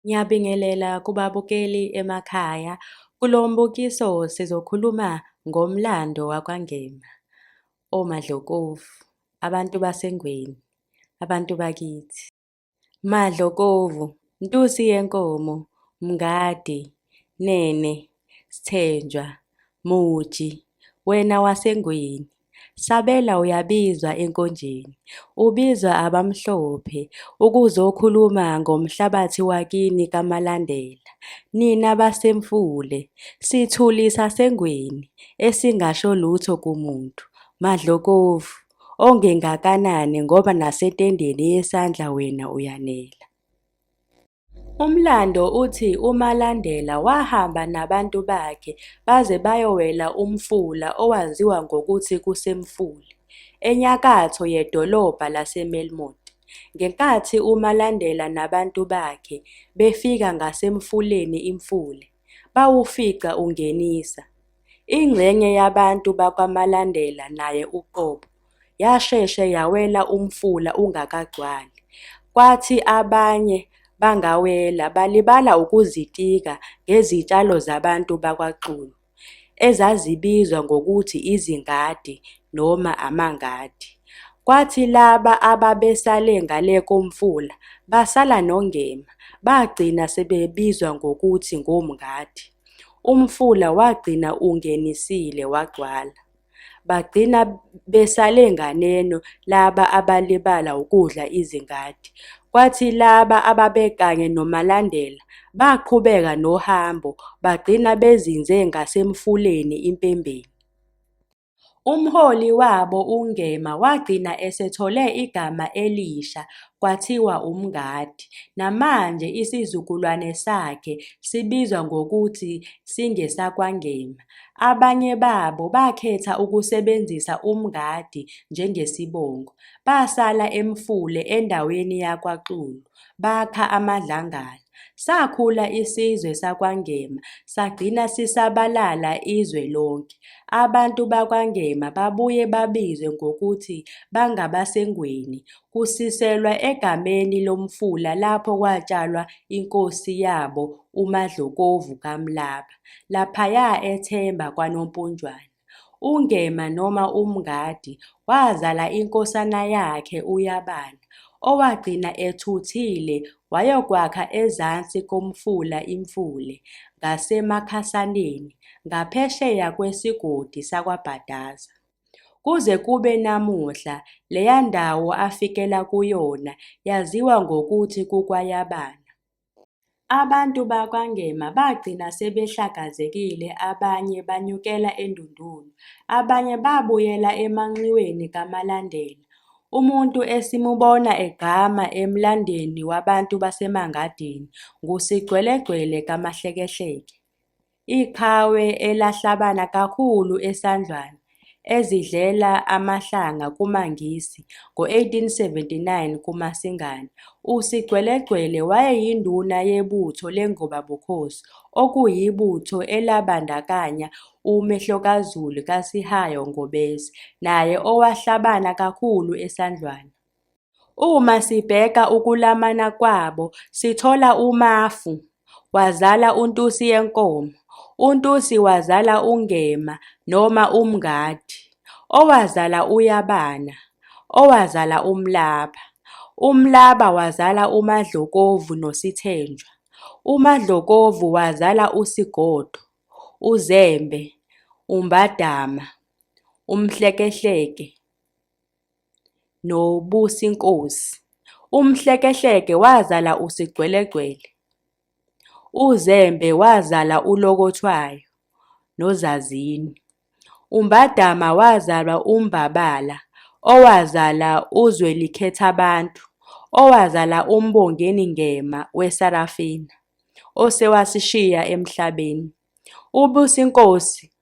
Ngiyabingelela kubabukeli emakhaya. Kulo mbukiso sizokhuluma ngomlando wakwaNgema, oMadlokovu, abantu baseNgweni, abantu bakithi. Madlokovu, Ntusi yenkomo, Mngadi, Nene, Sthenjwa, Muji, wena waseNgweni. Sabela uyabizwa enkonjeni, ubizwa abamhlophe ukuzokhuluma ngomhlabathi wakini kaMalandela. Nina baseMfule, sithuli saseNgweni esingasho lutho kumuntu, Madlokovu, ongengakanani ngoba nasetendeni yesandla wena uyanela. Umlando uthi uMalandela wahamba nabantu bakhe baze bayowela umfula owaziwa ngokuthi kuseMfuli, enyakatho yedolobha laseMelmoth. Ngenkathi uMalandela nabantu bakhe befika ngasemfuleni iMfule, bawufica ungenisa. Ingxenye yabantu bakwaMalandela naye uqobo yasheshe yawela umfula ungakagcwali, kwathi abanye bangawela balibala ukuzitika ngezitshalo zabantu bakwaXulu, ezazibizwa ngokuthi izingadi noma amangadi. Kwathi laba ababesale ngale komfula basala nongema, bagcina sebebizwa ngokuthi ngomngadi. Umfula wagcina ungenisile wagcwala. Bagcina besale nganeno laba abalibala ukudla izingadi. Kwathi laba ababekanye noMalandela baqhubeka nohambo bagcina bezinze ngasemfuleni impembeni. Umholi wabo uNgema wagcina esethole igama elisha kwathiwa uMngadi, namanje isizukulwane sakhe sibizwa ngokuthi singesakwaNgema. Abanye babo bakhetha ukusebenzisa uMngadi njengesibongo, basala eMfule endaweni yakwaXulu, bakha amadlangala. Sakhula isizwe sakwaNgema sagcina sisabalala izwe lonke. Abantu bakwaNgema babuye babizwe ngokuthi bangabaseNgweni kusiselwa egameni lomfula lapho kwatshalwa inkosi yabo uMadlokovu kaMlaba, laphaya eThemba kwaNompunjwana. UNgema noma uMngadi wazala inkosana yakhe uYabana, owagcina ethuthile wayokwakha ezansi komfula iMfule, ngaseMakhasaneni, ngaphesheya kwesigodi sakwaBhadaza. Kuze kube namuhla, leya ndawo afikela kuyona yaziwa ngokuthi kuKwayabana. Abantu bakwaNgema bagcina sebehlakazekile abanye banyukela eNdundulu, abanye babuyela emanxiweni kaMalandela. Umuntu esimubona egqama emlandweni wabantu baseMangadini nguSigcwelegcwele kaMahlekehleke. Iqhawe elahlabana kakhulu eSandlwana ezidlela amahlanga kumaNgisi ngo-1879 kuMasingana, uSigcwelegcwele wayeyinduna yebutho lengobabukhosi, okuyibutho elabandakanya uMehlokazulu kaSihayo Ngobese, naye owahlabana kakhulu eSandlwana. Uma sibheka ukulamana kwabo sithola uMafu wazala uNtusi yenkomo, uNtusi wazala uNgema noma uMngadi, owazala uYabana, owazala uMlaba, uMlaba wazala uMadlokovu noSithenjwa, uMadlokovu wazala uSigodo, uZembe, uMbadama, uMhlekehleke, noBusi Nkosi. UMhlekehleke wazala uSigcwelegcwele. UZembe wazala uLokothwayo noZazini. UMbadama wazalwa uMbabala owazala uZwelikhethabantu owazala uMbongeni Ngema weSarafina osewasishiya emhlabeni. UBusi Nkosi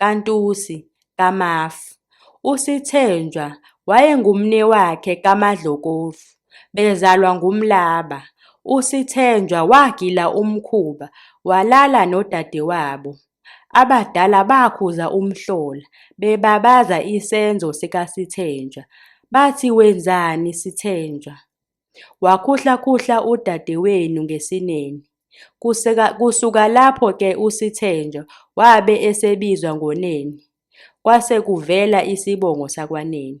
kaNtusi kaMafu, uSithenjwa wayengumnewakhe kaMadlokovu, bezalwa nguMlaba. USithenjwa wagila umkhuba walala nodadewabo. Abadala bakhuza umhlola bebabaza isenzo sikaSithenjwa, bathi wenzani Sithenjwa? Wakhuhlakhuhla udadewenu ngesinene. Kuseka- Kusuka lapho ke uSithenjwa wabe esebizwa ngoNene. Kwase kuvela isibongo sakwaNene.